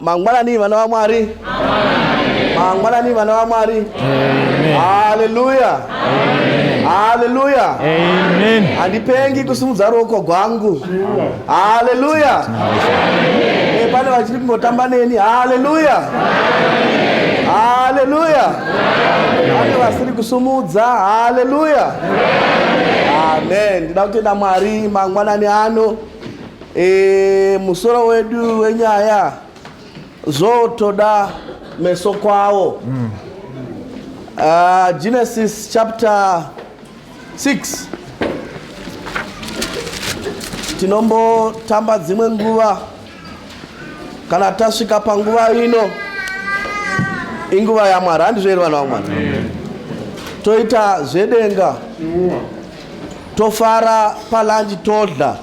mangwanani vana vamwari mangwanani vana vamwari haleluya haleluya handipengi kusimudza ruoko gwangu haleluya eh, pane vachiri kungotamba neni haleluya haleluya pane vasiri kusumudza haleluya amen ndida kutenda mwari mangwanani ano E, musoro wedu wenyaya zvotoda meso kwawo mm. uh, Genesis chapter 6 tinombotamba dzimwe nguva kana tasvika panguva ino inguva yamwari handizvo here vana vamwari toita zvedenga tofara palanji todla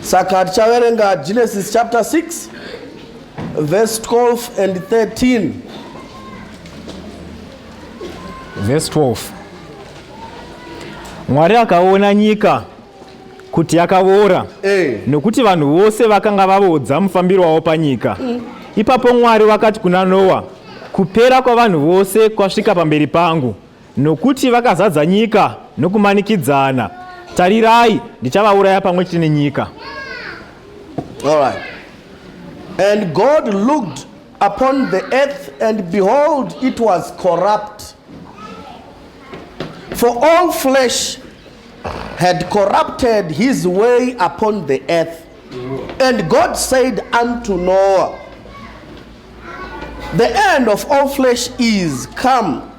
saka tichaverenga genesis chapter 6 verse 12 and 13 verse 12 mwari akaona nyika kuti yakavora hey. Eh. nokuti vanhu vose vakanga vavodza mufambiro wavo panyika mm. ipapo mwari vakati kuna noa kupera kwavanhu vose kwasvika pamberi pangu Nokuti vakazadza nyika nokumanikidzana, tarirai, ndichavauraya pamwe chete nenyika. All right. And God looked upon the earth, and behold, it was corrupt. For all flesh had corrupted his way upon the earth. And God said unto Noah, The end of all flesh is come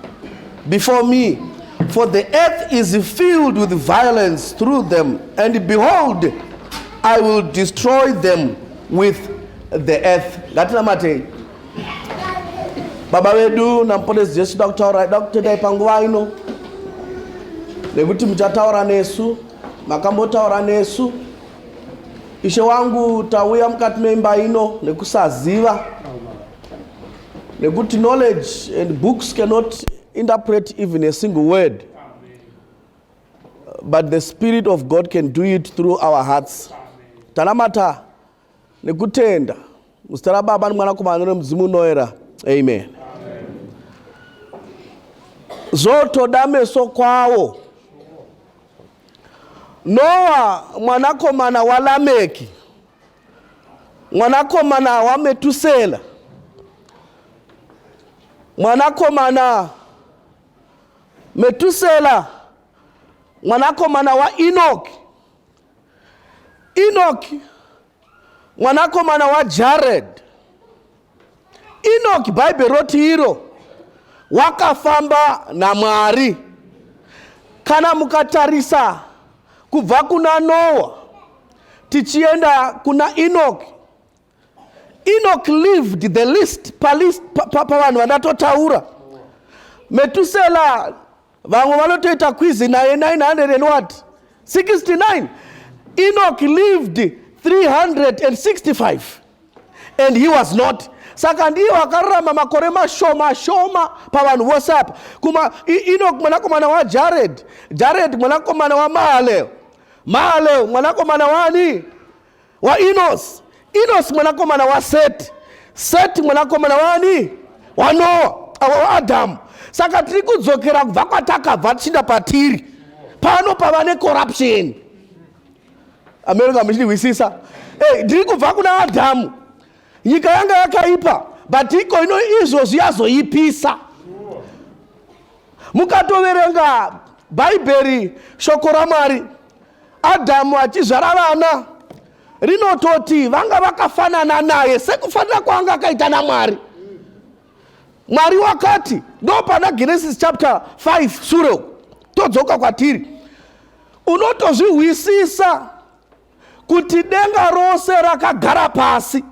before me, for the earth is filled with violence through them, and behold, I will destroy them with the earth. Ngatinamate. Baba vedu naMponesi Jesu da kutaura da kutendai panguva ino nekuti muchataura nesu makambotaura nesu Ishe wangu, tauya mukati meimba ino nekusaziva nekuti knowledge and books cannot interpret even a single word but the spirit of God can do it through our hearts. Tanamata nekutenda Muzita raBaba neMwanakomana nemudzimu unoera. Amen. Zvotoda meso kwawo. Noa mwanakomana waLameki mwanakomana waMetusela mwanakomana Metusela mwanakomana waEnoki. Enoki mwanakomana wajared enoki bhaibheri roti iro wakafamba namwari kana mukatarisa kubva kuna noa tichienda kuna enoki enoki lived the list pavanhu pa, pa, pa vandatotaura metusela vamwe vanotoita kwizi naye 900 and what 69 enoch lived 365 and he was not saka ndiye wakararama makore mashoma shoma pavanhu vose apa kuma enoch mwanakomana wajared jared mwanakomana wamahaleo mahaleo mwanakomana wani wainosi inosi mwanakomana waseti seti mwanakomana waani wanoa waadhamu saka tiri kudzokera kubva kwatakabva tichinda patiri pano pava necorruption america muchindihwisisa ey ndiri kubva kuna adhamu nyika yanga yakaipa but iko ino izvozvi yazoipisa mukatoverenga bhaibheri shoko ramwari Adhamu achizvara vana rinototi vanga vakafanana naye sekufanira kwaanga akaita naMwari. Mwari wakati ndopana Genesis chapter 5 sure uku todzoka kwatiri unotozvihwisisa kuti denga rose rakagara pasi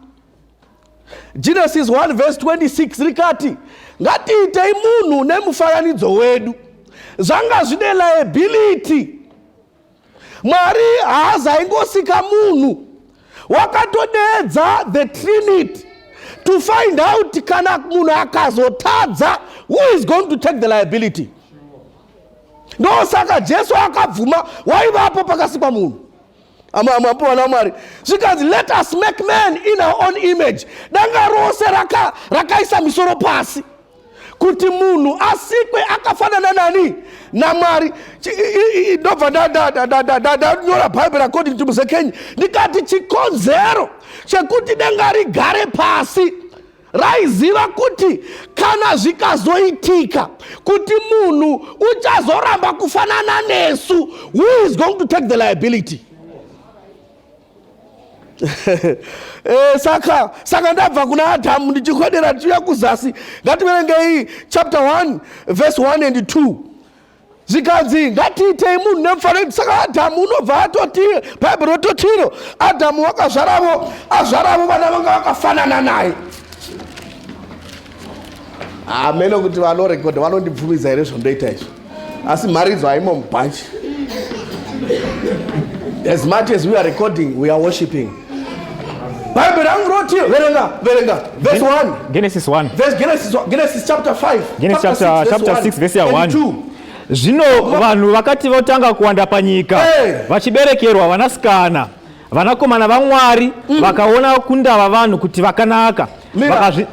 Genesis 1 verse 26 rikati ngatiitei munhu nemufananidzo wedu. Zvanga zvine liability. Mwari haazaingosika munhu wakatodeedza the trinity to find out kana munhu akazotadza who is going to take the liability ndosaka jesu akabvuma waivapo pakasikwa munhu amwapuwana mwari zvikanzi let us make man in our own image danga rose raka, rakaisa misoro pasi kuti munhu asikwe akafanana nani namwari ndobva ndanyora bhaibheri according to muzekenyi ndikati chikonzero chekuti danga rigare pasi raiziva kuti kana zvikazoitika kuti munhu uchazoramba kufanana nesu who is going to take the liability e, saka saka ndabva kuna adhamu ndichikodera ndichiuya kuzasi ngativerengei chapter 1 verse 1 and 2 zvikanzi ngatiitei munhu nemufananidzo saka adhamu unobva atoti bhaibheri rototi iro adhamu wakazvaravo azvaravo vana vanga vakafanana naye hameno kuti vanorekodha vanondibvumidza here zvondoita izvo asi mharidzo haimo mubhanji as much as we are recording we are worshipping Bible rangu roti verenga verenga verse 1. Genesis 1. Verse Genesis Genesis chapter 5. Genesis chapter, chapter, chapter 6 verse 1. Zvino vanhu vakati votanga kuwanda panyika hey. vachiberekerwa vanasikana vanakomana vaMwari mm. vakaona kundava vanhu kuti vakanaka Vakazvi...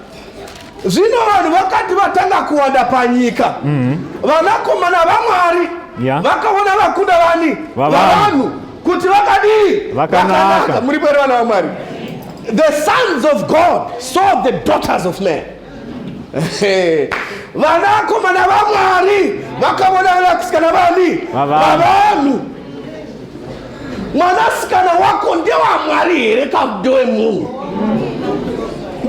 zvino vanhu vakati vatanga kuwanda panyika mm -hmm. vanakomana vamwari yeah. vakaona vakunda vani vavanhu kuti vakadii vakanaka muri pere vana vamwari the sons of god saw the daughters of man vanakomana vamwari vakaona vanakusikana vani vavanhu mwanasikana wako ndewamwari here kamudewe munhu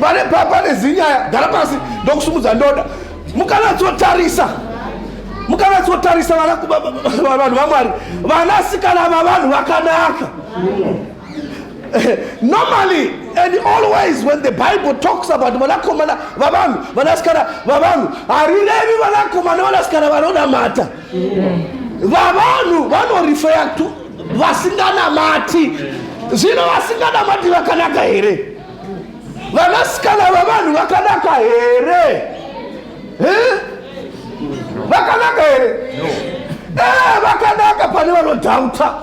pane pane zinyaya gara pasi ndokusumudza ndoda mukanatsotarisa mukanatsotarisa vanhu vamwari vanasikana vavanhu vakanaka normally and always when the bible talks about vanakomana vavanhu vanasikana vavanhu harirevi vanakomana vanasikana vanonamata vavanhu vanorifeya to vasinganamati zvino vasinganamati vakanaka here vanasikana vavanhu vakanaka here vakanaka here eh, vakanaka pane vanodhauta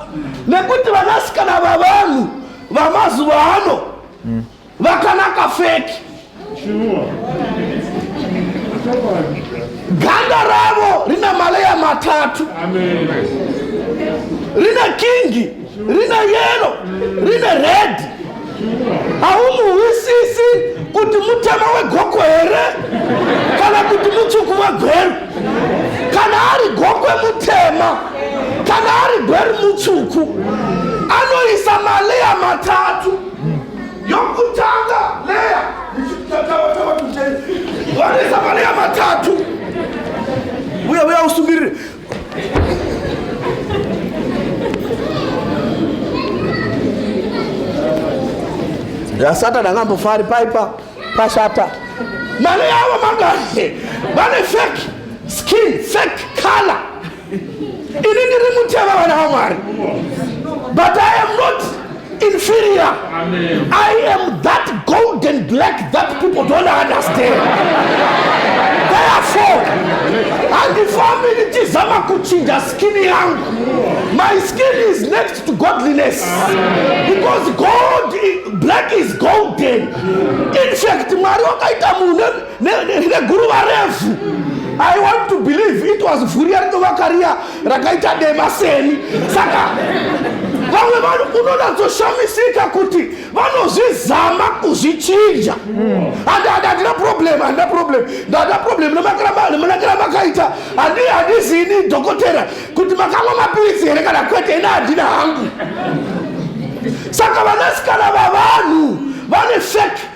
nekuti vanasikana vavanhu vamazuva ano Vakanaka fake. Sure. Ganda ravo rina maleya matatu. Amen. Rina kingi, rina yellow, rina red. Haumuhwisisi kuti mutema wegoko here kana kuti mutsvuku wegweru. Kana ari gokwe mutema, kana ari gweru mutsvuku. Anoisa maleya matatu. yokutanga leya tatavatava tucheni vanesa maleya matatu uya uya usungirire yasatani angambofari paipa pashata maleya avo mangani vane fake skin fake color ini ndiri mutema vana vamwari but i am not inferior Amen. i am that golden black that people don't understand therefore handifambi ndichizama kuchinja skini yangu my skin is next to godliness because gold black is golden in fact mwari wakaita munhu neguruva refu i want to believe it was vhuriya rinovaka riya rakaita dema seni saka vamwe vanhu unonatsoshamisika kuti vanozvizama kuzvichinja handina problem handina problem ndada problem nemunakira makaita handizini dhokotera kuti makamwa mapiritsi here kana kwete ina handina hangu saka vanasikana vavanhu vane fake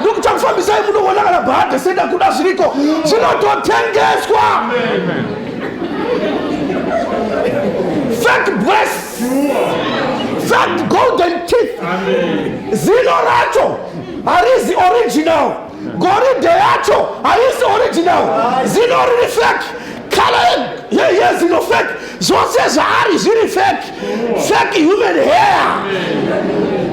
ndokutokufambisai munoona kana bhadhe senda kuda zviriko zvinototengeswa fake breasts fake golden teeth zino racho harizi original goridhe yacho harizi original zino riri fake Karen, ye- yezino fake zvose zvaari zviri fake fake human hair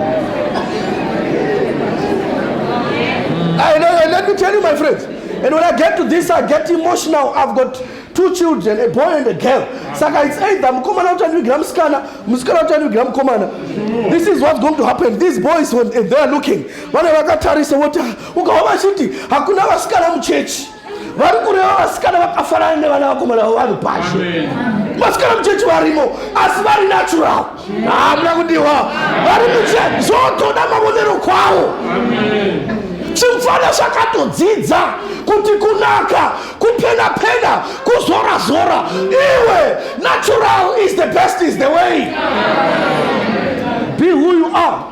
I know, and let me tell you, my friends. And when I get to this, I get emotional. I've got two children, a boy and a girl. Saka it's either mukomana uchandivigira musikana, musikana uchandivigira mukomana. This is what's going to happen. These boys, when they are looking, vane vakatarisa voti, "Ah, ukaona chiti hakuna vasikana muchechi. vari kureva vasikana vakafanana nevana vakomana vavanhu pashu vasikana muchechi varimo asi vari natural hamuna kudiwa vari muche zvotoda mavonero kwavo zvimfana zvakatodzidza kuti kunaka kupena pena kuzora zora iwe natural is the best is the way be who you are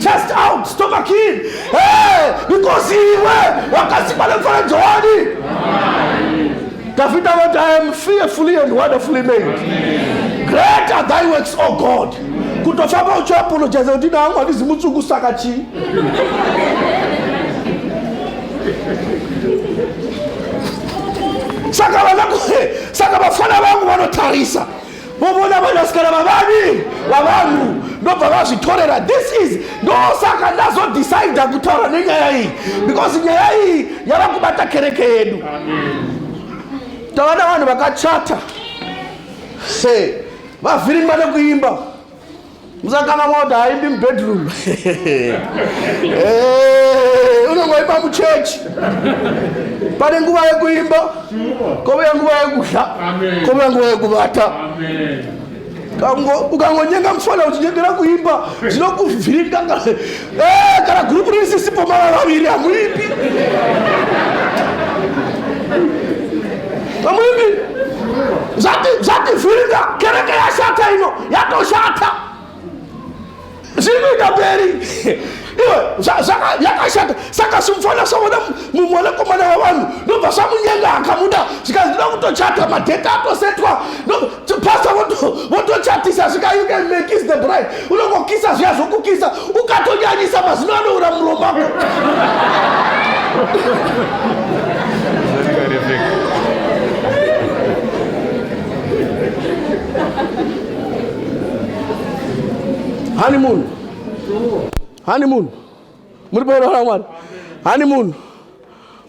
Chest out, stomach in. Hey, because iwe wakasikwa nemfaredzo wani. Davida vati I am fearfully and wonderfully made. Great are thy works, O God. Kutofamba uchiapologize kuti nangu handizi mutsuku saka chii? saka vana saka vafana vangu vanotarisa vovona vanasikana vavani vavanhu ndobva vazvitorera this is ndosaka ndazodecida kutaura nenyaya iyi because nyaya iyi yava kubata kereke yedu tava navanhu vakachata se vavhiringwa nekuimba musakana moti haidi mubedroom eh, unongoimba muchechi pane nguva yekuimba kovouya nguva yekudya kovouya nguva yekuvata ukangonyenga mufana uchinyengera kuimba zvinokuvhiringa eh, kana gurupu risisipo mara vaviri hamuimbi hamuimbi zvativhiringa kereke yashata ino yatoshata zviri kuita mberi iwe yakashata saka simufana saona mumwanakomana wavanhu ndobva samunyenga akamuda zvikanzi ndida kutochata madheta atosetwa pasta votochatisa zvika you can make is the bride unongokisa zviya zvokukisa ukatonyanyisa mazino anoura muromako honeymoon honeymoon muri paona mwana honeymoon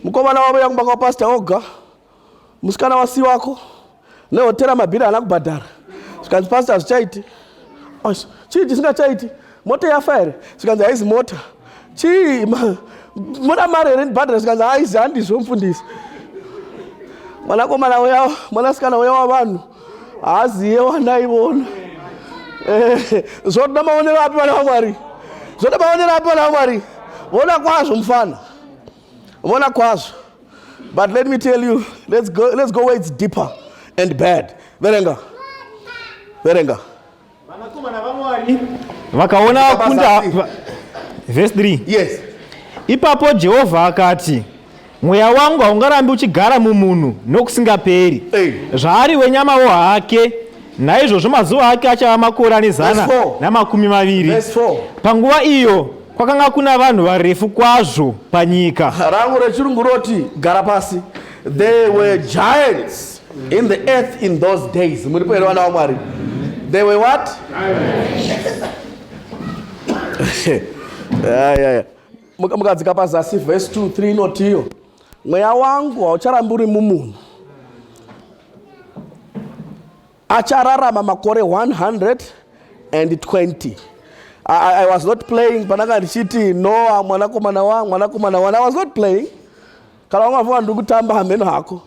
mukomana wavo yakumba kwa pastor oga musikana wasi wako nehotera mabhiri haana kubhadhara zvikanzi pastor hazvichaiti chii chisingachaiti mota yafa here zvikanzi haizi mota chii moda mari here ndibhadhara zvikanzi haizi handizvo mfundisi mwanakomana uya mwanasikana uya wavanhu haaziye wandaivona eh, zvoda maonero api vana vamwari zvoda maonero api vana vamwari vona kwazvo mufana vona kwazvo but let me tell you let's go, let's go where it's deeper and bad verenga verenga Vanakomana vaMwari vakaona vakunda verse 3 yes ipapo Jehovha akati mweya wangu haungarambi uchigara mumunhu nokusingaperi zvaari wenyamawo hake naizvozvo mazuva ake achava makore ane zana namakumi maviri panguva iyo kwakanga kuna vanhu varefu kwazvo panyika rangu rechirungu roti gara pasi There were giants in the earth in those days. Muripo here vana vaMwari? They were what? yeah, yeah. mukadzika pazasi vhesi 2 3 inotiyo mweya wangu haucharambi uri mumunhu achararama makore 120 I, i was not playing pandanga ndichiti noa mwanakomana wa mwanakomana wan i was not playing kana vamwe vavo ndiri kutamba hameno hako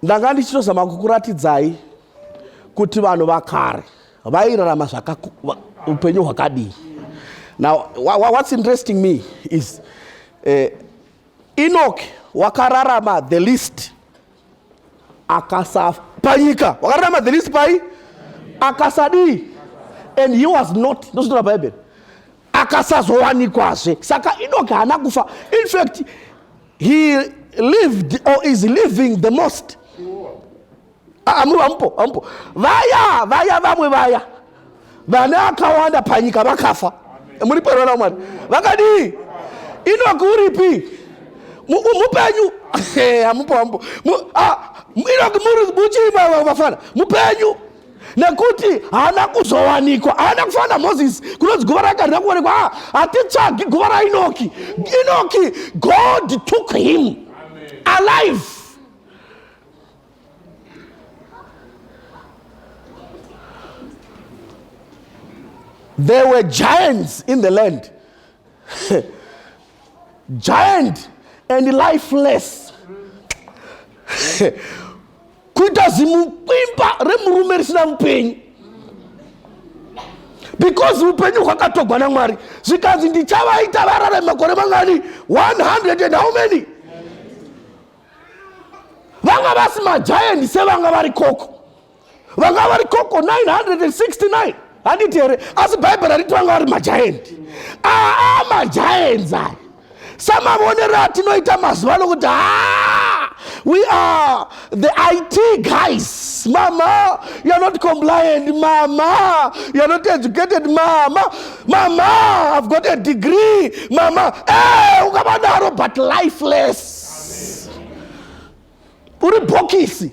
ndanga ndichitozama kukuratidzai kuti vanhu vakare vairarama upenyu hwakadii now what's interesting me is uh, eh, enoch wakararama the least akasafa panyika wakararama the least pai akasadii and he was not ndozvitaura bhaibheri akasazowanikwazve saka inoki haana kufa in fact he lived or is living the most amuru ah, amupo amupo vaya vaya vamwe vaya vana akawanda panyika vakafa muri pano na mwari vakadii inoki uripi mupenyu hamupo hamupo ah, inoki muri muchii vafana mupenyu nekuti haana kuzowanikwa haana kufana namozisi kunonzi guva rake harina kuonekwa ah, hatitsvagi guva rainoki inoki god took him alive There were giants in the land. giant and lifeless. kuita zimukwimba remurume risina mupenyu because upenyu hwakatogwa namwari zvikanzi ndichavaita varare makore mangani 100 and how many vanga vasi majaendi sevanga vari koko vanga vari koko 969 handiti here asi bhaibheri hariti vanga vari majaendi aa majaendi aya samavonero atinoita mazuva ano kuti haa we are the it guys mama you're not compliant mama you're not educated mama mama i've got a degree mama e eh, hey, ukavadaro but lifeless uri bhokisi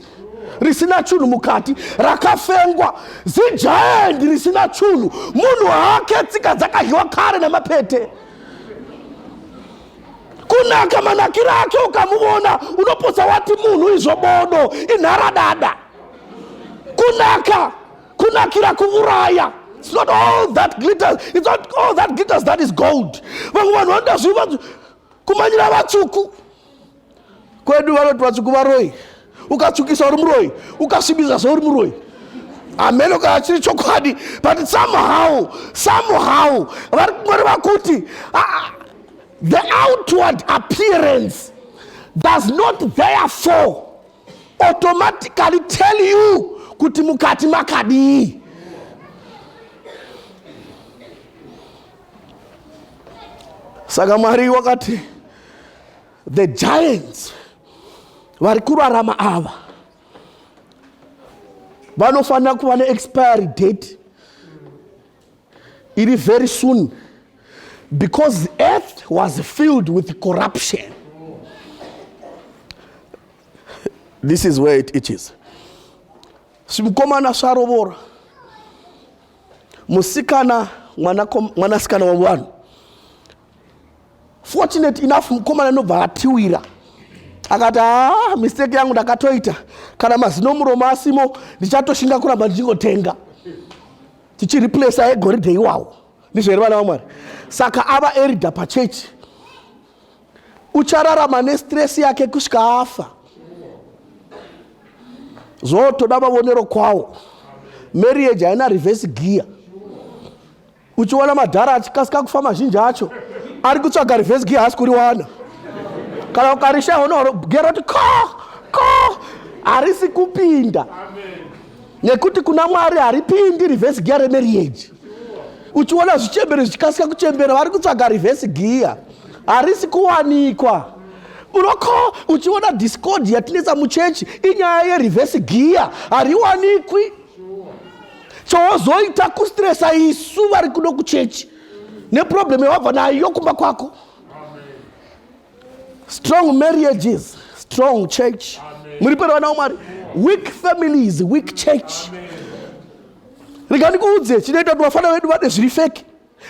risina chunhu mukati rakafengwa zijaendi risina chunhu munhu hake tsika dzakadyiwa kare nemapete kunaka manakiro ake ukamuvona unopotsa wati munhu izvo bodo inharadada kunaka kunakira kuvuraya it's not all that glitters it's not all that glitters that is gold vamwe vanhu vanoda zviva kumanyira vatsvuku kwedu vanoti vatsvuku varoyi ukatsvukisa uri muroyi ukasvibisa zvauri muroyi hameno kana chiri chokwadi but somehow somehow vari kungoreva kuti ah, the outward appearance does not therefore automatically tell you kuti mukati makadii saka mwari wakati the giants vari kurarama ava vanofanira kuva neexpiry date iri very soon because the earth was filled with corruption this is where it itches svimukomana svarovora musikana mwanasikana wavanhu fortunate enough mukomana anobva atiwira akati haa ah, mistake yangu ndakatoita kana mazino muromo asimo ndichatoshinga kuramba ndichingotenga tichireplace aegoridhe iwawo ndizvo here vana vamwari saka ava erida pachechi uchararama nestress yake kusvika afa zvotoda mavonero kwawo marriage haina reverse gear uchiona madhara achikasika kufa mazhinji acho ari kutsvaga reverse gear haasi kuriwana kana ukarisha honoro gero ti ko ko harisi kupinda nekuti kuna mwari haripindi reverse gear remarriage uchiona zvichembere zvichikasika kuchembera vari kutsvaga reverse gear harisi kuwanikwa unoko uchiona discord yatinetsa muchechi inyaya yereverse gear hariwanikwi chowozoita kustresa isu vari kuno kuchechi neproblem yawabva nayo kumba kwako Strong marriages, strong church. Muri pano vana waMwari. Weak families, weak church. Rega ndikuudze chinoita kuti vafana vedu vade zviri feki.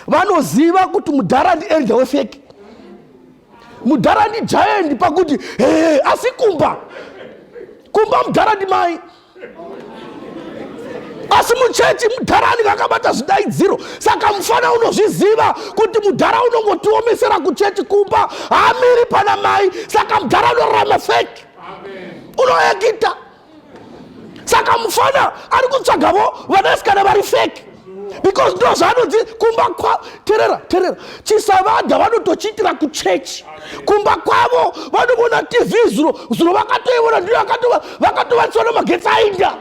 Vanoziva kuti mudhara ndi elder wefeki. Mudhara ndi giant pakuti hey, asi kumba. Kumba mudhara ndi mai. asi muchechi mudhara anenge akabata zvidaidziro saka mufana unozviziva kuti mudhara unongotiomesera kuchechi kumba haamiri pana mai saka mudhara unorarama feki unoekita saka mufana ari kutsvagavo vanasikana vari feki because ndo zvaanodzi kumba kwavo terera terera chisavadha vanotochiitira kuchechi kumba kwavo vanovona tv zuro zuro vakatoivona ndiyo vakatovanisana magetsi ainda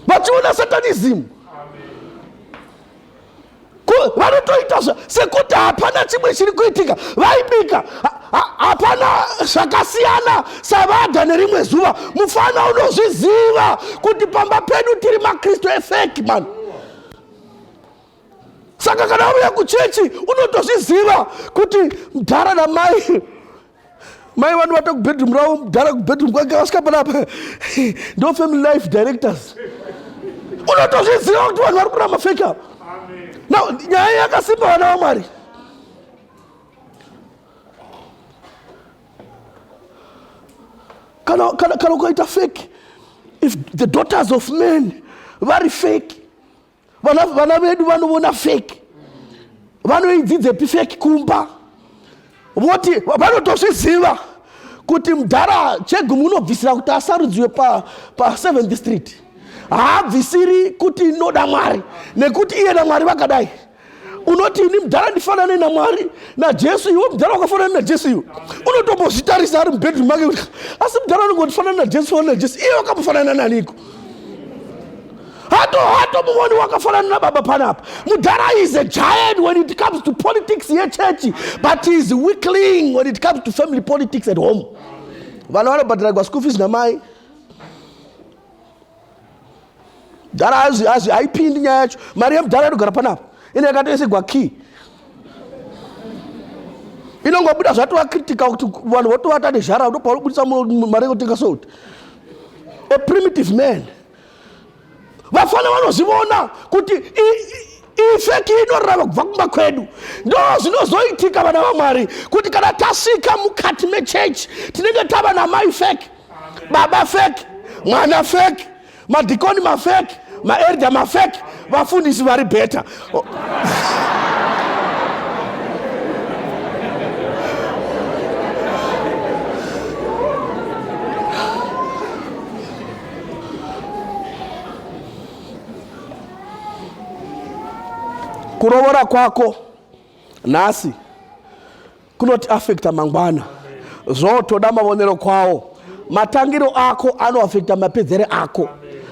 vachiona satanism vanotoita sekuti hapana chimwe chiri kuitika vaibika hapana zvakasiyana savada nerimwe zuva mufana unozviziva kuti pamba pedu tiri makristu efeki mani saka kana uya kuchechi unotozviziva kuti mdhara namai mai vanu vata kubedroom ravo mudhara kubedroom kwake vasvika panapa ndo family life directors unotozviziva kuti vanhu vari kuramba fake ava now nyaya yakasimba vana vamwari kana kana kana ukaita fake if the daughters of men vari fake vana, vana vedu vanovona fake vanoidzidzepi fake kumba voti vanotozviziva kuti mdhara chegumu unobvisira kuti asarudziwe pa, pa 7th street haabvisiri kuti inoda mwari nekuti iyena mwari vakadai unoti ini mudhara ndifanane namwari najesu iwe mudhara wakafanana najesu iwe unotombozvitarisa ari mubedroom make kuti asi mudhara unenge utifanana najesu fanana najesu iye wakamufanana naniko hato hato muvoni wakafanana nababa panapa mudhara is a giant when it comes to politics yechechi but is weakling when it comes to family politics at home vana vanobhadhiragwa school fees namai mdhara hazvi hazvi haipindi nyaya yacho mari yemdhara inogara panapa ine yakatoisegwa key inongobuda zvatova critical kuti vanhu votovata nezhara ndopauri kubudisa mari yekutenga salt a primitive man vafana vanozvivona kuti ifeki inorava kubva kumba kwedu ndo zvinozoitika vana vamwari kuti kana tasvika mukati mechechi tinenge tava namaifeki baba fake mwana fake madhikoni mafake maerda mafake vafundisi vari bheta kurovora kwako nhasi kunotiafekta mangwana zvotoda mavonero kwawo matangiro ako anoafekta mapedzere ako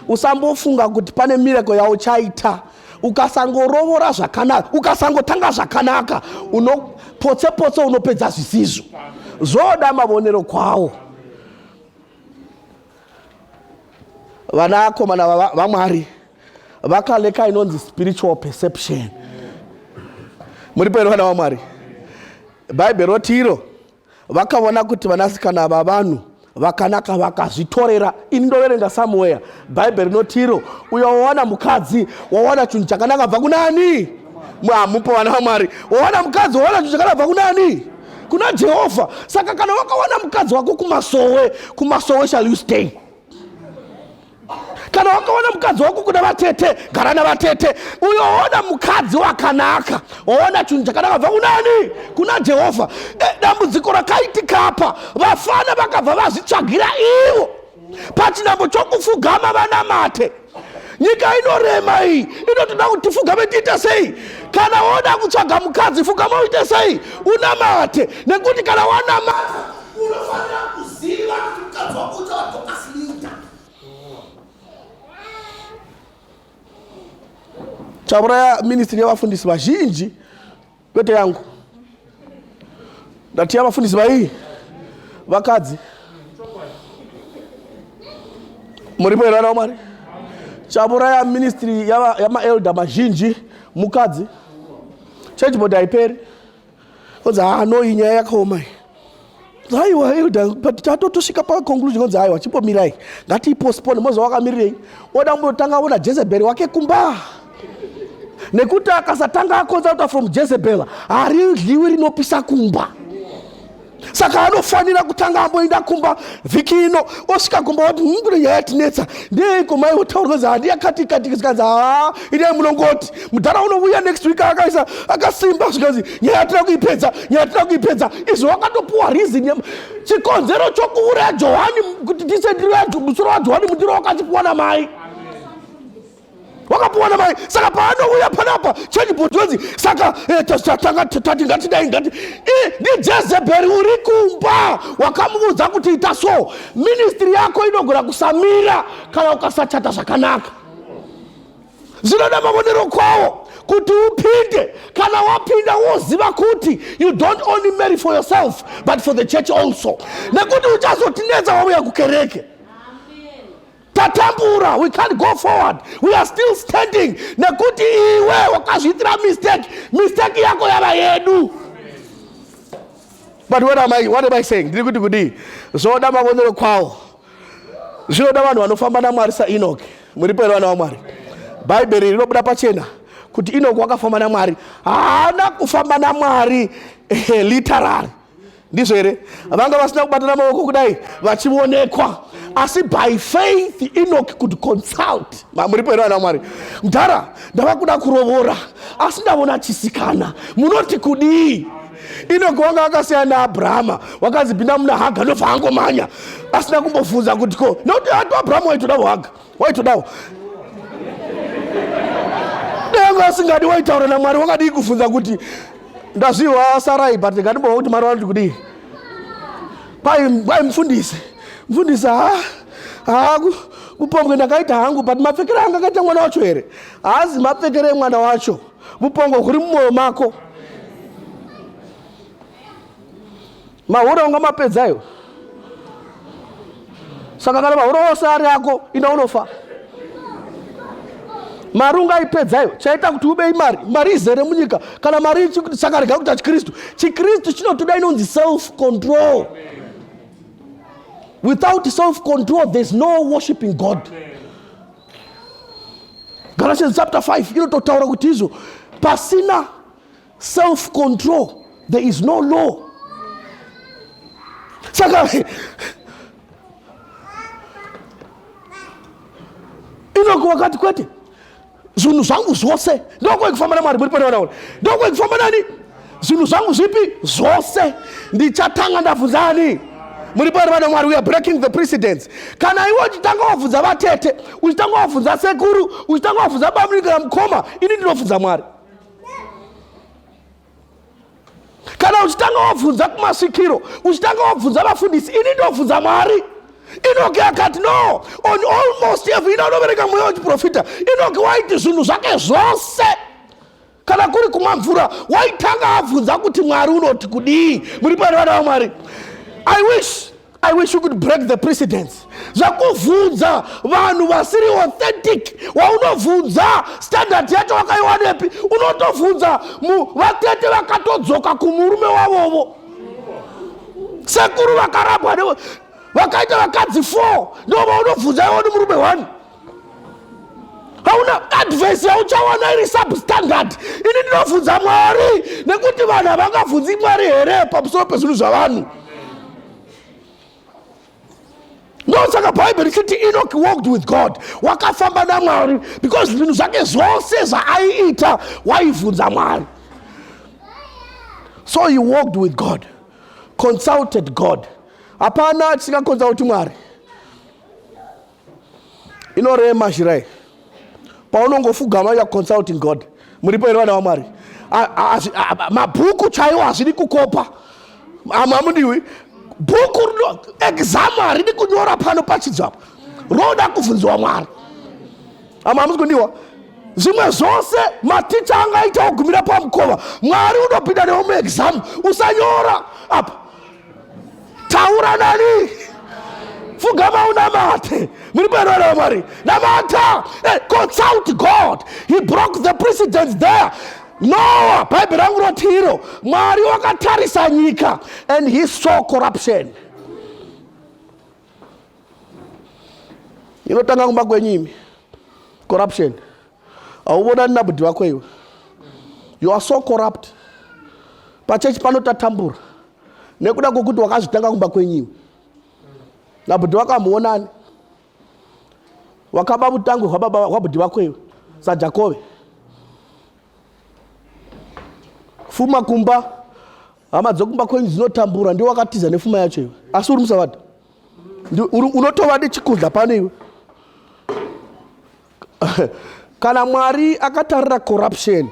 usambofunga kuti pane mireko yauchaita ukasangorovora zvakanaka ukasangotanga zvakanaka unopotse potse unopedza zvisizvo zvoda mavonero kwawo vanakomana vamwari wa vakaleka inonzi spiritual perception muripo here vana vamwari bhaibheri roti iro vakaona kuti vanasikana vavanhu vakanaka vakazvitorera ini ndoverenga samuweya bhaibheri rinoti iro uyo wawana mukadzi wawana chinhu chakanaka bva kunani hamupo vana vamwari wawana mukadzi wawana chinhu chakanaka bva kunani kuna jehovha saka kana wakawana mukadzi wako kumasowe kumasowe shall you stay kana wakaona mukadzi wako kuda vatete gara navatete uyoona mukadzi wakanaka oona chinhu chakanaka bva kunani kuna jehovha e, dambudziko rakaitika apa vafana vakabva vazvitsvagira ivo pachinambo chokufugama vanamate nyika inorema iyi inotoda kuti tifugame tiite sei kana woda kutsvaga mukadzi fugama uite sei unamate nekuti kana wanamata Unofanira kuziva kuti mukadzi wako uchava Dorcas Linda. Chauraya ministry yevafundisi vazhinji kwete yangu. Ndati yavafundisi vaii vakadzi. Muripo here vana Mwari? Chauraya ministry yama elder mazhinji mukadzi. Church board haiperi. Kodzi haa no iyi nyaya yakaoma iyi. Haiwa elder but tatotosvika pa conclusion kodzi haiwa chimbomirai ngatiipostpone moziva wakamirirei oda kumbotanga ona Jezebel wake kumba nekuti akasatanga akonza kuta from Jezebel haridliwi rinopisa kumba. saka anofanira kutanga amboenda kumba vhiki ino osvika kumba wati mkune nyaya yatinetsa ndeiko mai votaurwa za handi yakati kati zvikanzi haa idai munongoti mudhara unovuya next week akaisa akasimba zvikanzi nyaya yatina kuipedza nyaya yatina kuipedza izvo wakatopuwa reason chikonzero chokuuraya johani kuti tisendiro musoro wajohani mundiro wakati kuwana mai wakapuwa namai saka paanouya panapa chenibot wenzi saka eh, tati ngatidai ngati eh, ndijezebheri uri kumba wakamuudza kuti ita so ministri yako inogona kusamira kana ukasachata zvakanaka zvinoda mavonero kwawo kuti upinde kana wapinda woziva kuti you don't only marry for yourself but for the church also nekuti uchazotinetsa wauya kukereke tatambura we can't go forward we are still standing nekuti iwe wakazviitira mistake mistake yako yava yedu but what am I, what am I saying ndiri kuti kudii zvoda mavonero kwawo zvinoda vanhu vanofamba namwari sainoki muripo here vana vamwari bhaibheri rinobuda pachena kuti inoki wakafamba namwari haana kufamba namwari eh, literary ndizvo here vanga vasina kubatana maoko kudai vachionekwa asi by faith enoch could consult muripo here vana mwari mdhara ndava kuda kurovora asi ndavona chisikana munoti kudii inoki wanga akasiyana naabrahama wakanzi pinda muna haga ndobva angomanya asina kumbobvunza kuti ko nokuti ati abrahama waitoda kuhaga waitodawo danga asingadi waitaura namwari wakadii kufunza kuti ndazviwa sarai but ngandimboa kuti mwari vanoti kudii kwai mfundisi mfundisi ha ha mupongwe ndakaita hangu but mapfekere anga akaita mwana wacho here haazi mapfekere emwana wacho mupongwe huri mumwoyo mako Mahura unga mapedza ayo. Saka kana mahura ose ari ako ina unofa. Mari ungaipedza ayo. Chaita kuti ube imari. Mari izere munyika. Kana mari saka rega kuti chikristu. Chikristu chinotoda inonzi self control. Without self control there's no worshiping God. Galatians chapter 5 inototaura kuti izvo pasina self control there is no law saka inoko wakati kwete zvinhu zvangu zvose ndokwai kufamba namwari muri pane vanaona ndokwai kufamba nani zvinhu zvangu zvipi zvose ndichatanga ndabvunza ani muri pane vana mwari weare breaking the precedence kana iwe uchitanga wabvunza vatete uchitanga wabvunza sekuru uchitanga wabvunza bamunikana mukoma ini ndinobvunza mwari kana uchitanga wabvunza kumasvikiro uchitanga wabvunza vafundisi ini ndobvunza mwari inoke akati no on almost every ina unovereka mweya wechiprofita inoke waiti zvinhu zvake zvose kana kuri kumwa mvura waitanga abvunza kuti mwari unoti kudii muri pane vana vamwari i wish I wish you could break the precedence. Zvakuvhunza vanhu vasiri authentic waunovhunza standard yacho wakaiwanepi unotovhunza vatete vakatodzoka kumurume wavovo sekuru vakarabwa nevo vakaita vakadzi four ndova unobvunza iwo nemurume one hauna advice yauchawana iri substandard ini ndinobvunza mwari nekuti vanhu havangabvunzi mwari here pamusoro pezvinhu zvavanhu ndosaka bhaibheri chiti enoki walked with god wakafamba namwari because zvinhu zvake zvose zvaaiita waibvunza mwari so he walked with god consulted god hapana atisingakonsauti mwari inorema zhirai paunongofugama ya consulting god muripo here vana vamwari mabhuku chaiwo hazvidi kukopa amwe amudiwi bhuku rino exam haridi kunyora pano pachidzo apa roda kubvunziwa mwari amwe amusi kundiwa zvimwe zvose maticha angaita ogumira pamukova mwari unopinda newo muexam usanyora apa taura nani fugama unamate muri panoera vamwari namata eh, consult god he broke the precedence there noa bhaibheri rangu roti iro mwari wakatarisa nyika and he saw corruption inotanga kumba kwenyu imi corruption hauvonani nabudi vako iwe you are so corrupt pachechi pano tatambura nekuda kwokuti wakazvitanga kumba kwenyiwe nabudi vako hamuonani wakaba vutangwe hwabudi vako iwe sajakove fuma kumba hama dzokumba kwenyu dzinotambura ndiwe wakatiza nefuma yacho iwe asi uri musavadha unotova nechikudla pano iwe kana mwari akatarira corruption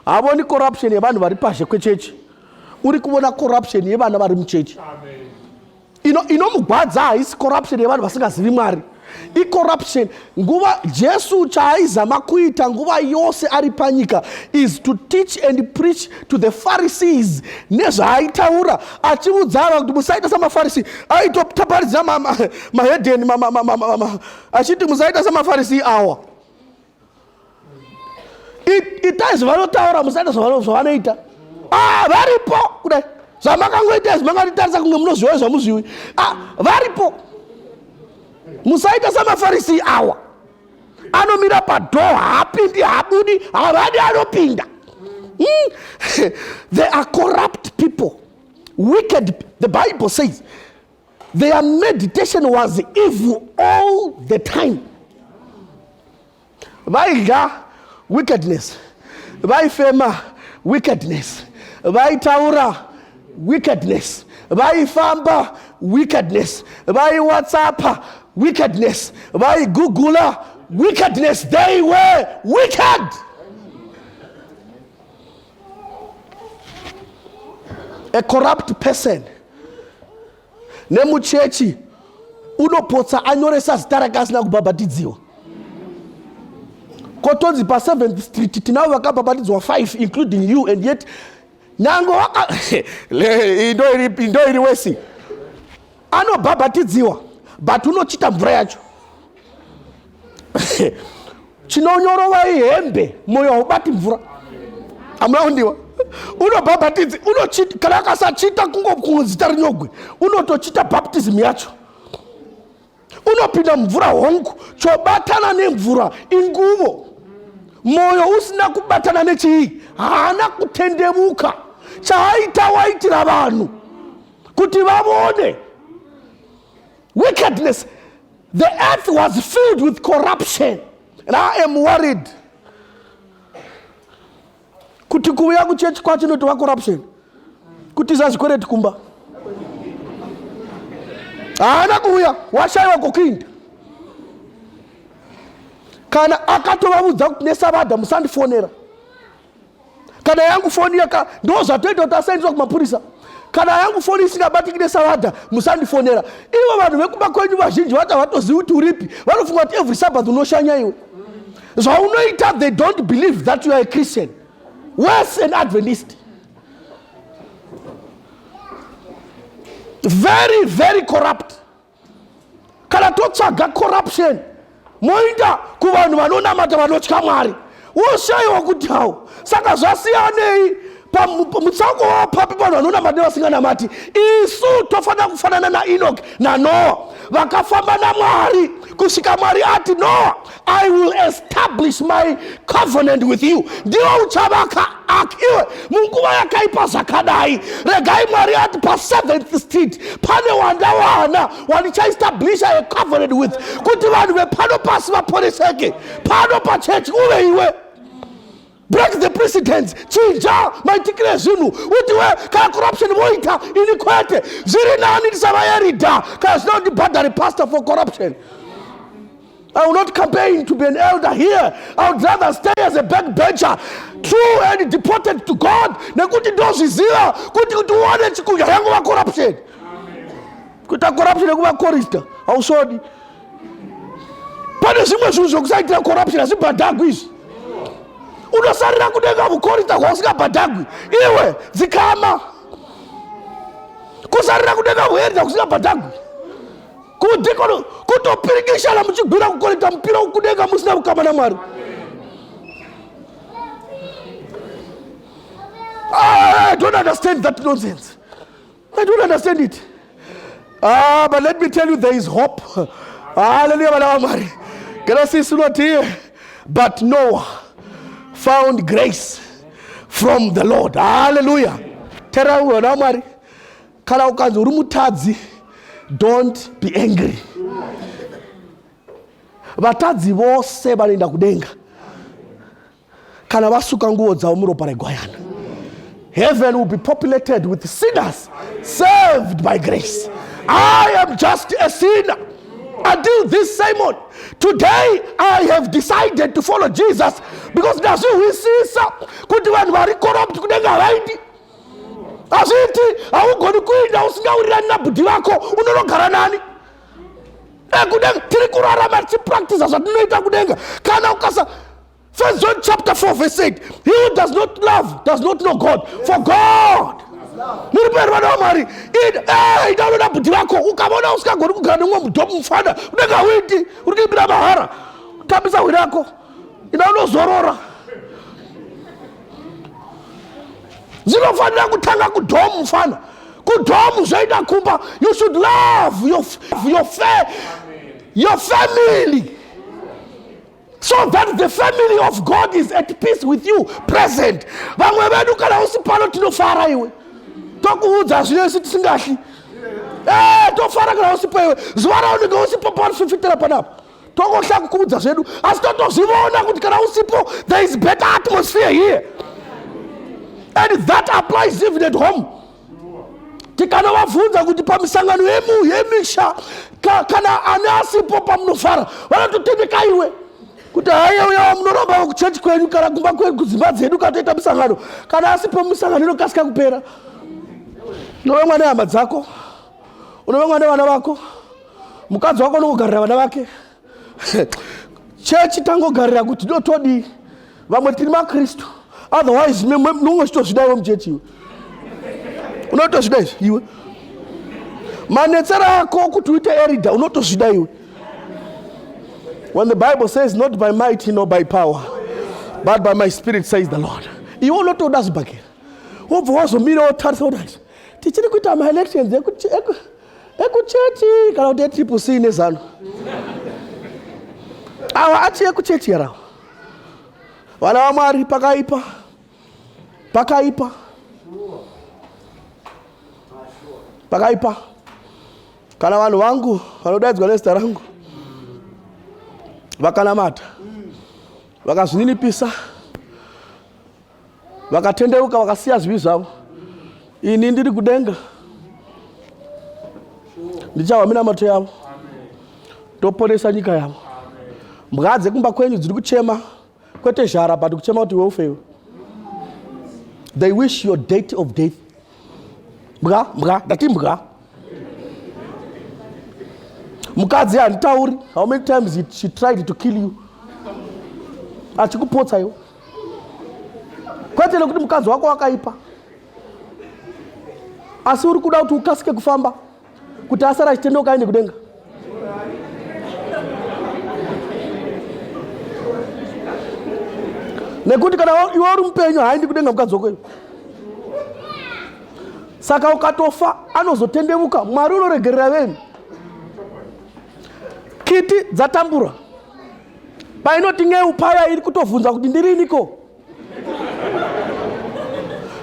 havoni corruption yevanhu vari pazhe kwechechi uri kuvona corruption yevana vari muchechi inomugwadza ino haisi corruption yevanhu vasingazivi mwari icorruption nguva jesu chaaizama kuita nguva yose ari panyika is to teach and preach to the pharisees nezvaaitaura achiudza ava kuti musaita samafarisi aitotaparidzira mahedeni achiti musaita semafarisi awa itai zvavanotaura musaita zvavanoita ah, varipo kudai zvamakangoita izvi makatitarisa kunge munozviwa zvamuzviwi ah, varipo musaita samafarisi awa anomira padho haapindi haabudi havadi anopinda mm. they are corrupt people wicked the bible says Their meditation was evil all the time. Vaidya wickedness, vaifema wickedness, vaitaura wickedness, vaifamba wickedness, vaiwhatsappa wickedness, vaigugula wickedness. They were wicked. a corrupt person nemuchechi unopotsa anyoresa zita rake asina kubhabhatidziwa kotonzi pa 7th street tinavo vakabhabhatidzwa 5 including you and yet nyange waka ndo iri wesi anobhabhatidziwa but unochita mvura yacho chinonyorovai hembe moyo haubati mvura hamuna kundiwa unobhabhatidzi unochita kana akasachita kungozita rinyogwe unotochita baptism yacho unopinda mvura hongu chobatana nemvura inguvo mwoyo usina kubatana nechii haana kutendemuka chaaita waitira vanhu kuti vavone wickedness the earth was filled with corruption and i am worried kuti kuuya kuchechi kwacho inotova corruption kutiza zvikwereti kumba haana kuuya washaiwa kokuinda kana akatovavudza kuti nesabadha musandifonera kana yangu foni yaka ndo zvatoita kuti asaendeswa kumapurisa kana yangu foni isingabatiki nesaladha musandifonera ivo vanhu vekuba kwenyu vazhinji vati havatozivi kuti uripi vanofunga kuti every sabbath unoshanya iwe zvaunoita they don't believe that you are a christian worse an adventist very very corrupt kana totsvaga corruption moinda kuvanhu vanonamata vanotya mwari woshaiwa kuti hawo saka zvasiyanei mutsauko wavo papi vanhu vanonamati nevasinganamati isu tofanira kufanana naenoki nanoa vakafamba namwari kusvika mwari ati noa I will establish my covenant with you. Ndiwo uchavaka ak iwe munguva yakaipa zvakadai. Regai Mwari ati pa seventh street pane wandawana wandichaestablisha a covenant with kuti vanhu vepano pasi vaporeseke pano pachechi uve iwe break the precedence chinja maitikire zvinhu uti we kana corruption voita ini kwete zviri nani ndisavayerida kana zvina kuti bhadhari pastor for corruption I will not campaign to be an elder here. I would rather stay as a backbencher, true and deported to God. Nekuti ndozviziva kuti kuti uone chikuya yangu va corruption. Kuita corruption yekuva chorister hausvodi. pane zvimwe zvinhu zvekusaitira corruption hazvibhadhagwi izvi unosarira kudenga vukorita hwausingabhadhagwi iwe dzikama kusarira kudenga vuherita kusingabhadhagwi kudhikono kutopirikishana muchigwira kukorita mupira kudenga musina vukama namwari ah, i don't understand that nonsense I don't understand it. Ah, but let me tell you, there is hope. Hallelujah, vana vaMwari. Kana sisi unoti, but Noah found grace from the Lord. Hallelujah. Tera vana vaMwari. Kana ukanzi uri mutadzi, don't be angry. Vatadzi vose vanoenda kudenga. kana vasuka nguvo dzavo muropa regwayana heaven will be populated with sinners saved by grace i am just a sinner until this simon today i have decided to follow jesus because ndazvihwisisa kuti vanhu vari corrupt kunenge havaiti hazviiti haugoni kuinda usingaurirani nabhudhi vako unonogara nani ekudenga tiri kurarama tichipractisa zvatinoita kudenga kana ukasa First John chapter 4 verse 8. He who does not love does not know God. Yes. For God. muri peri vana vamwari ida unoda bhudhi vako ukavona usingagoni kugara neumwe mudhomu mufana unenge hauiti uri kuimbira mahara tambisa hwi rako ida unozorora dzinofanira kutanga kudhomu mufana kudhomu zvoita kumba you should love your, your, your family so that the family of god is at peace with you present vamwe vedu kana usi pano tinofara iwe tokuudza zvino isu tisingahli eh, tofara kana usipo iwe zuva raunenge usipo paunofifitira panapa tokohla kukuudza zvedu asi totozviona kuti kana usipo there is better atmosphere here and that applies even at home tikanovabvunza kuti pamisangano yemu yemisha ka, kana ani asipo pamunofara vanototemeka iwe kuti haiya uya wamunoramba kuchechi kwenyu kana kumba kwenyu kudzimba dzedu katoita misangano kana asipo misangano inokasika kupera unove mwana hama dzako unove mwana vana vako mukadzi wako unokugarira vana vake chechi tangogarira kuti do todii vamwe tiri makristu otherwise nonge chitozvida iwe muchechi iwe unotozvida izvi iwe manetsera ako kuti uite erida unotozvida iwe when the bible says not by might nor by power but by my spirit says the lord iwe unotoda zvibhakera wobva wazomira wotarisa kuti tichiri kuita maelections ekuchechi kana kuti etriple c nezano awa ati ekuchechi yarawa vana vamwari pakaipa pakaipa pakaipa kana vanhu vangu vanodaidzwa nezita rangu vakanamata vakazvininipisa vakatendeuka vakasiya zvivi zvavo ini ndiri kudenga ndichahwa minamato yavo toponesa nyika yavo mbwa dzekumba kwenyu dziri kuchema kwete zhara but kuchema kuti iwe ufewe they wish your date of death mbwa mbwa ndati mbwa mukadzi handitauri how many times she tried to kill you achikupotsa iwe kwete nekuti mukadzi wako wakaipa asi uri kuda kuti ukasike kufamba kuti asara achitendeuka aende kudenga nekuti kana iwe uri mupenyu haaendi kudenga mukadzi wako iwe saka ukatofa anozotendevuka mwari unoregerera veni kiti dzatambura painoti ngeu paya iri kutovhunza kuti ndiriniko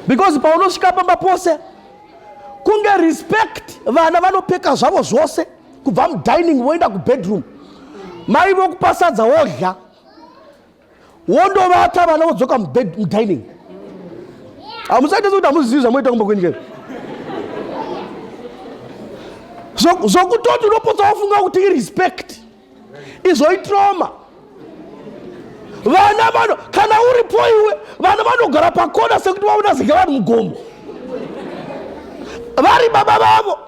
because paunosvika pamba pose kunge respect vana vanopfeka zvavo zvose kubva mudining voenda kubedroom mai vokupasadza wodya wondovata vana vodzoka mudining hamusaite sekuti hamuzivi zvamoita kumba kwenyika zvokutoti unopotsa wafunga kuti irespect so, izvo itroma vana vano kana uripo iwe vana vanogara pakona sekuti vaona zika vanhu mugomo vari baba vavo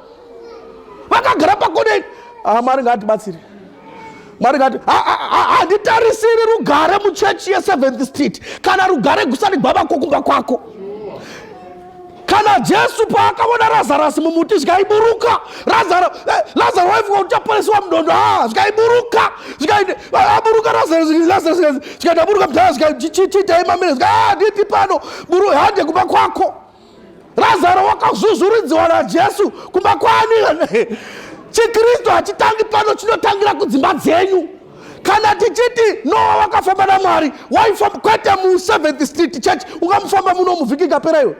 vakagara pakona ini ah, mwari ngaatibatsiri mwari ngati handitarisiri rugare muchechi yeseventh street kana rugare gusani gwavako kumba kwako kana jesu paakaona razarasi mumuti zvikaiburuka lazaro eh, waifunga kuti chaporesiwa mudondo a ah, zvikaiburuka aburuka zvikati aburuka mdhara zvikaichiitaimamire zvikaditi ah, pano buru hande kumba kwako lazaro wakazvuzvuridziwa najesu kumba kwani chikristu hachitangi pano chinotangira kudzimba dzenyu kana tichiti noa wakafamba namwari waifamba kwete museventh street church ungamufamba muno muvhiki ikapera iwe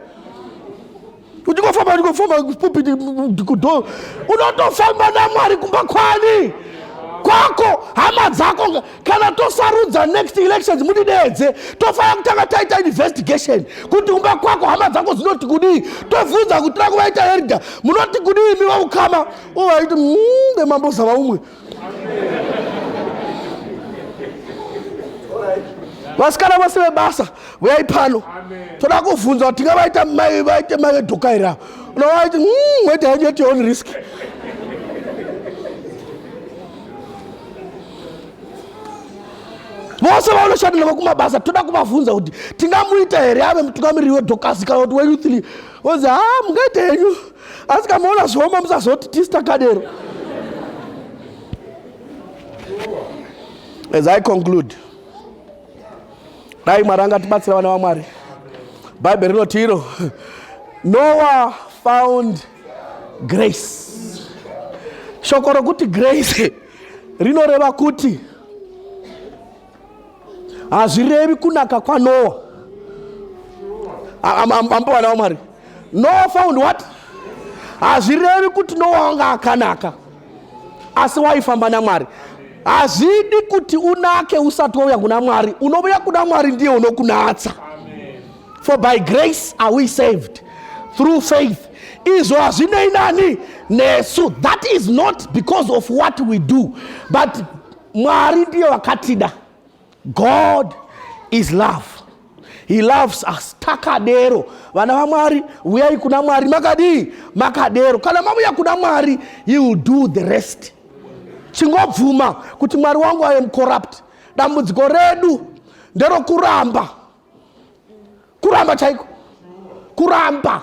uchingofamba ndingofamba kupupiti kudo unotofamba namwari kumba kwani kwako hama dzako kana tosarudza next elections mudidedze tofanira kutanga taita investigation kuti kumba kwako hama dzako dzinoti kudii tobvunza kuti tira kuvaita herida munoti kudii miva ukama uvaiti mm, vemambozava umwe vasikana vose vebasa vuyai pano toda kuvhunza kuti tingavaita mai vaite mai vedokaira unovaiti hmm, wete hanyu at your own risk vose vaunoshanda navo kumabasa toda kuvavhunza kuti tingamuita here ave mutungamiriri wedhokasi kana kuti weyouth league vonzi ha ah, mungaita henyu asi kamaona zvioma musazoti tisi takadero as i conclude dai mwari angatibatsira vana vamwari bhaibheri rinoti iro noah found grace shoko rokuti grace rinoreva kuti hazvirevi kunaka kwanoa ambowana wamwari noa found what hazvirevi kuti noa wanga akanaka asi waifamba namwari hazvidi kuti unake usati wauya kuna mwari unovuya kuna mwari ndiye unokunatsa for by grace are we saved through faith izvo hazvinei nani nesu that is not because of what we do but Mwari ndiye wakatida. God is love. He loves us. Takadero. Vana vaMwari, huyai kuna Mwari. Makadii? Makadero. Kana mavuya kuna Mwari, he will do the rest. Chingobvuma kuti Mwari wangu I am corrupt. Dambudziko redu nderokuramba. Kuramba chaiko. Kuramba.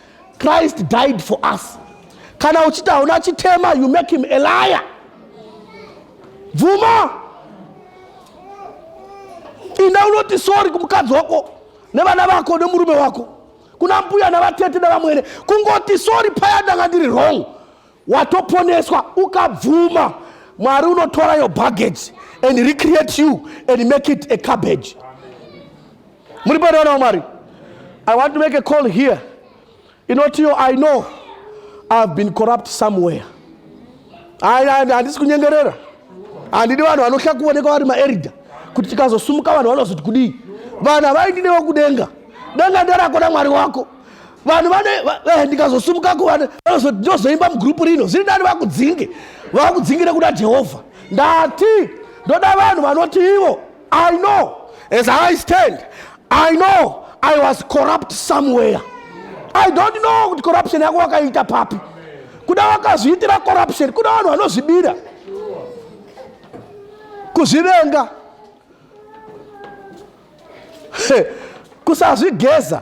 Christ died for us. Kana uchiti hauna chitema, you make him a liar. Bvuma. Inda unoti sorry kumukadzi wako nevana vako nemurume wako kuna mbuya navatete nevamwene kungoti sorry paya ndanga ndiri wrong watoponeswa ukabvuma mwari unotora your baggage and recreate you and make it a cabbage muri panoonao mwari i want to make a call here inotiyo i know ihave been corrupt somewhere handisi kunyengerera handidi vanhu vanohla kuoneka vari maerida kuti tikazosumuka vanhu vanozoti kudii vanhu havaindinewo kudenga denga nderakona mwari wako vanhu vane eh, ndikazosumuka kuvana ndozoimba mugroup rino zviri ndani vakudzinge vakudzingi nekuda jehovha ndati ndoda vanhu vanoti ivo i know as i stand i know i was corrupt somewhere i don't know kuti corruption yako wakaita papi kuda wakazviitira corruption kuda vanhu vanozvibira kuzvivenga kusazvigeza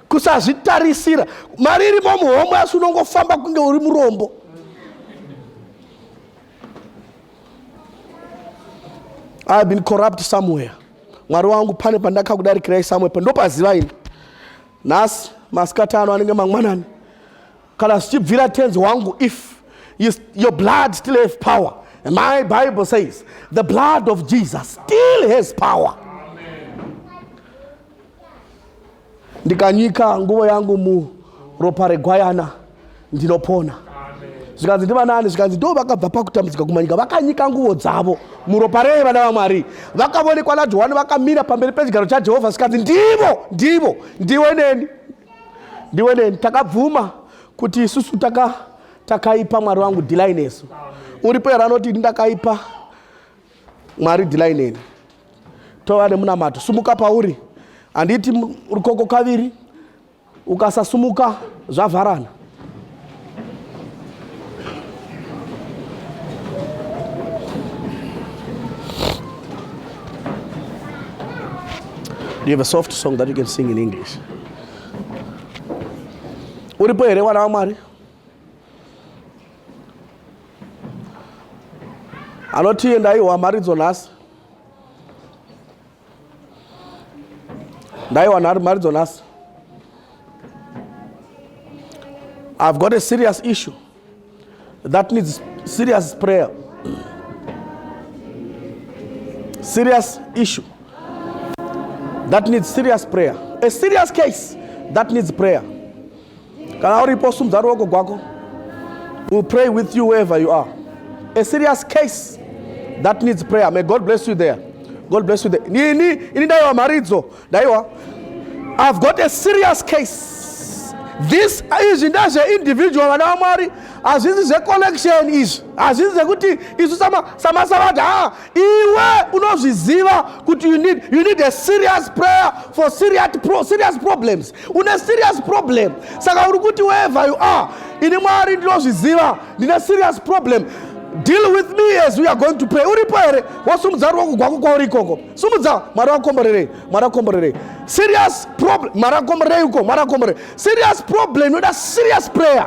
kusazvitarisira mari irimo muhomwe asi unongofamba kunge uri murombo i have been corrupt somewhere mwari wangu pane pandakakudarikirai somewhere ndopaziva ini nhasi masikati ano anenge mangwanani kana zvichibvira tenzi wangu if you, your blood still have power And my bible says the blood of jesus still has power ndikanyika nguvo yangu muropa regwayana ndinopona zvikanzi ndivanani zvikanzi ndo vakabva pakutambudzika kumanyika vakanyika nguvo dzavo muropa rei vana vamwari vakavonekwa najohani vakamira pamberi pechigaro chajehovha zvikanzi ndivo ndivo ndiwe neni ndiwe neni takabvuma kuti isusu taka takaipa mwari wangu dhilai nesu uripo here anoti ini ndakaipa mwari dhilai neni tova nemunamato sumuka pauri handiti rukoko kaviri ukasasumuka zvavharana Do you have a soft song that you can sing in English? Uripo here wana wamwari anoti endai wamharidzo nhasi ndaiwana ari mharidzo nhasi i've got a serious issue that needs serious prayer serious issue that needs serious prayer a serious case that needs prayer kana uripo sumudza ruoko gwako will pray with you wherever you are a serious case that needs prayer may god bless you there god bless you there ini ini ndaiwa mharidzo ndaiwa i've got a serious case this izvi ndezveindividual vana vamwari hazvisi zvecollection izvi hazvisi zvekuti isu samasavati ha iwe unozviziva kuti you need, you need a serious prayer for serious, pro, serious problems une serious problem saka uri kuti wherever you are ini mwari ndinozviziva ndine serious problem deal with me as we are going to pray uripo here wasumudza ruoko gwako kwauri ikoko sumudza mwari wakomborerei mwari wakomborerei serious problem mwari wakomborerei uko mwari wakomborerei serious problem inoda serious prayer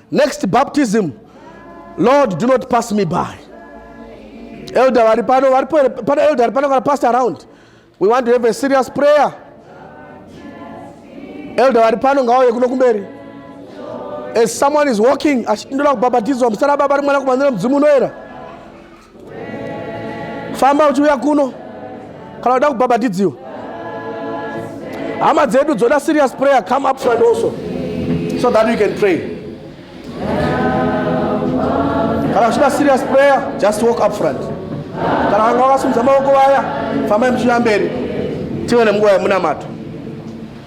Next baptism, Lord do not pass me by. Elder vari pano, vari pano elder vari pano kana pastor around. We want to have a serious prayer. Elder vari pano ngauye kuno kumberi. As someone is walking, achiti ndoda kubhabhatidzwa, musana baba ri mwanakomana nemudzimu unoera. famba uchiuya kuno kana uda kubhabhatidziwa hama dzedu dzoda serious prayer come up front also so that we can pray kana uchida serious prayer just walk up front kana vanga vakasimudza maoko vaya fambai muchiuya mberi tive nemunguva yemunamato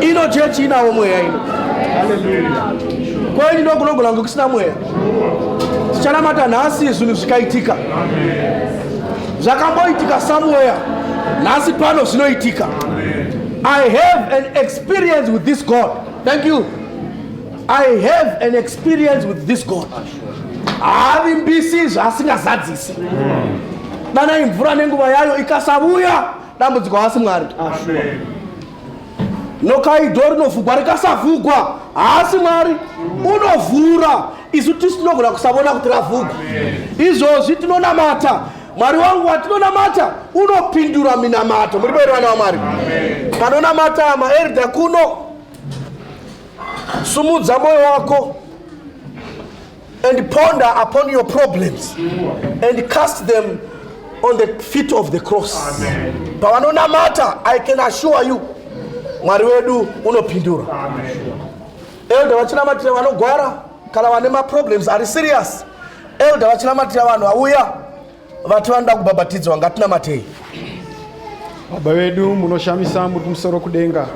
ino chechi inawo mweya ino kwaini ndokunogona kunge kusina mweya tichanamata nhasi zvinhu zvikaitika zvakamboitika somewhere nhasi pano zvinoitika i have an experience with this god thank you i have an experience with this god haavimbisi zvaasingazadzisi danai mvura nenguva yayo ikasavuya dambudziko haasi mwari nokaido rinovhugwa rikasavhugwa haasi mwari unovhura isu tisu tinogona kusavona kuti ravhugwa izvozvi tinonamata mwari wangu watinonamata unopindura minamato muri vairi vana vamwari panonamata maerda kuno sumudza mwoyo wako and ponder upon your problems and cast them on the feet of the cross pavanonamata i can assure you mwari wedu unopindura elder vachinamatira vanogwara kana vane maproblems ari serious elder vachinamatira vanhu vauya vati vanoda kubhabhatidzwa ngatinamatei baba vedu munoshamisa muri kumusoro kudenga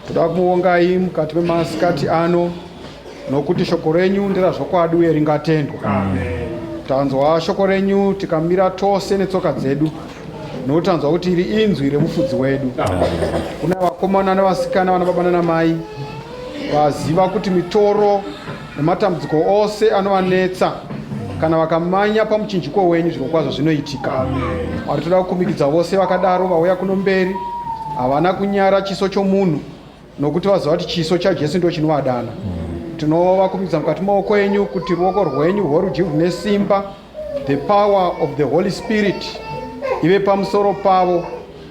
toda kumuongai mukati memasikati ano nokuti shoko renyu nderazvokwadi uye ringatendwa tanzwa shoko renyu tikamira tose netsoka dzedu nokuti tanzwa kuti iri inzwi remufudzi wedu kuna vakomana nevasikana vana baba nanamai vaziva kuti mitoro nematambudziko ose anovanetsa kana vakamanya pamuchinjiko wenyu zviro kwazvo zvinoitika ari toda kukumikidza vose vakadaro vauya kuno mberi havana kunyara chiso chomunhu nokuti vaziva kuti chiso chajesu ndo chinovadana tinovakumikidza mukati maoko enyu kuti ruoko rwenyu rworudyi rune simba The power of the Holy Spirit ive pamusoro pavo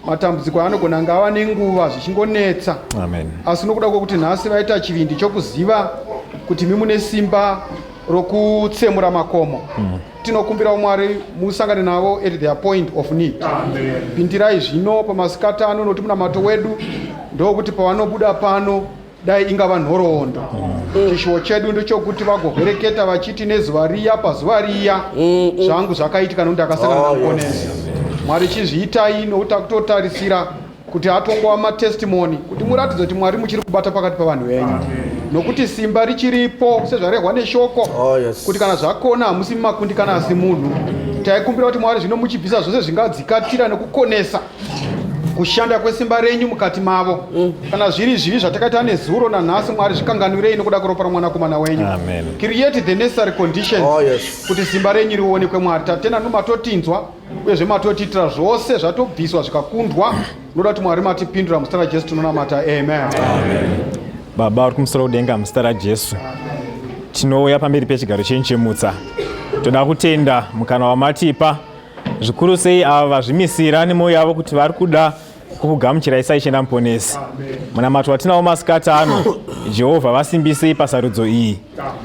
matambudziko anogona kunge ava nenguva zvichingonetsa asi nokuda kwekuti nhasi vaita chivindi chokuziva kuti mimune simba rokutsemura makomo mm. tinokumbirawo mwari musangane navo at their point of need pindirai zvino pamasikati ano nokuti munamato wedu ndokuti pavanobuda pano dai ingava nhoroondo mm. chishuwo chedu ndechokuti vagovereketa vachiti nezuva riya pazuva riya mm, mm. zvangu zvakaitika nokuti akasangana oh, nakonezi mwari chizviitai nokuti akutotarisira kuti atongova matestimoni kuti muratidze kuti mwari muchiri kubata pakati pavanhu venyu nokuti simba richiripo sezvarehwa neshoko oh, kuti kana zvakona hamusi mumakundikana asi munhu taikumbira kuti mwari zvino muchibvisa zvose zvingadzikatira nekukonesa kushanda kwesimba renyu mukati mavo mm. kana zviri zvivi zvatakaita nezuro nanhasi mwari zvikanganwirei nokuda kweropa romwanakomana wenyu create the necessary conditions oh, yes. kuti simba renyu rionekwe mwari tatena nomatotinzwa uyezve matotiitira zvose zvatobviswa zvikakundwa noda kuti mwari matipindura muzita rajesu tinonamata amen, amen. baba uri kumusoro kudenga muzita rajesu tinouya pamberi pechigaro chenyu chemutsa toda kutenda mukana wamatipa zvikuru sei ava vazvimisira nemoyo yavo kuti vari kuda kukugamuchirai saishenda muponesi munamato watinawo masikati ano jehovha vasimbisei pasarudzo iyi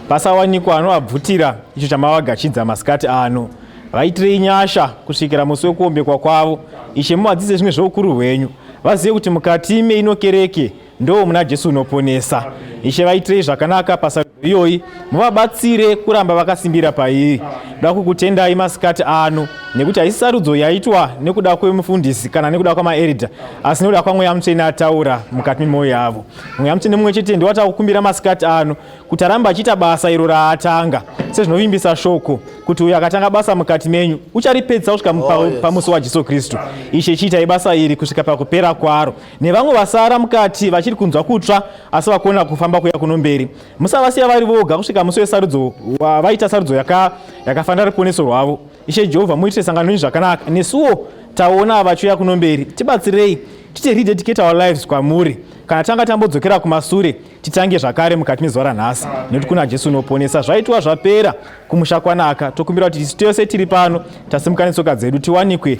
pasawanikwa anovabvutira icho chamavagachidza masikati ano vaitirei nyasha kusvikira musi wekuombekwa kwavo ishe muvadzidze zvimwe zveukuru hwenyu vazive kuti mukati meino kereke Ndoo muna Jesu unoponesa. Ishe vaitirei zvakanaka pasarudzo iyoyi, muvabatsire kuramba vakasimbira pairi. Ndoda kukutendai masikati ano nekuti haisi sarudzo yaitwa nekuda kwemufundisi kana nekuda kwamaeridha asi nekuda kwamweya mutsvene ataura mukati memwoyo yavo. Mweya mutsvene mumwe chete ndiwo atakukumbira masikati ano kuti arambe achiita basa iro raatanga sezvinovimbisa shoko kuti uyo akatanga basa mukati menyu ucharipedzisa kusvika oh, pamusi waJesu Kristu. Ishe chiitai basa iri kusvika pakupera kwaro nevamwe vasara mukati vachiri kunzwa kutsva asi vakona kufamba kuya kuno mberi musavasiya vari voga kusvika musi wesarudzo vaita sarudzo yakafanira ruponeso rwavo ishe jehovha muitire sangano renyu zvakanaka nesuwo taona vachiuya kuno mberi tibatsirei titi rededicate our lives kwamuri kana tanga tambodzokera kumasure titange zvakare mukati mezuva ranhasi nekuti kuna jesu unoponesa zvaitwa zvapera kumusha kwanaka tokumbira kuti tisu tose tiri pano tasimuka netsoka dzedu tiwanikwe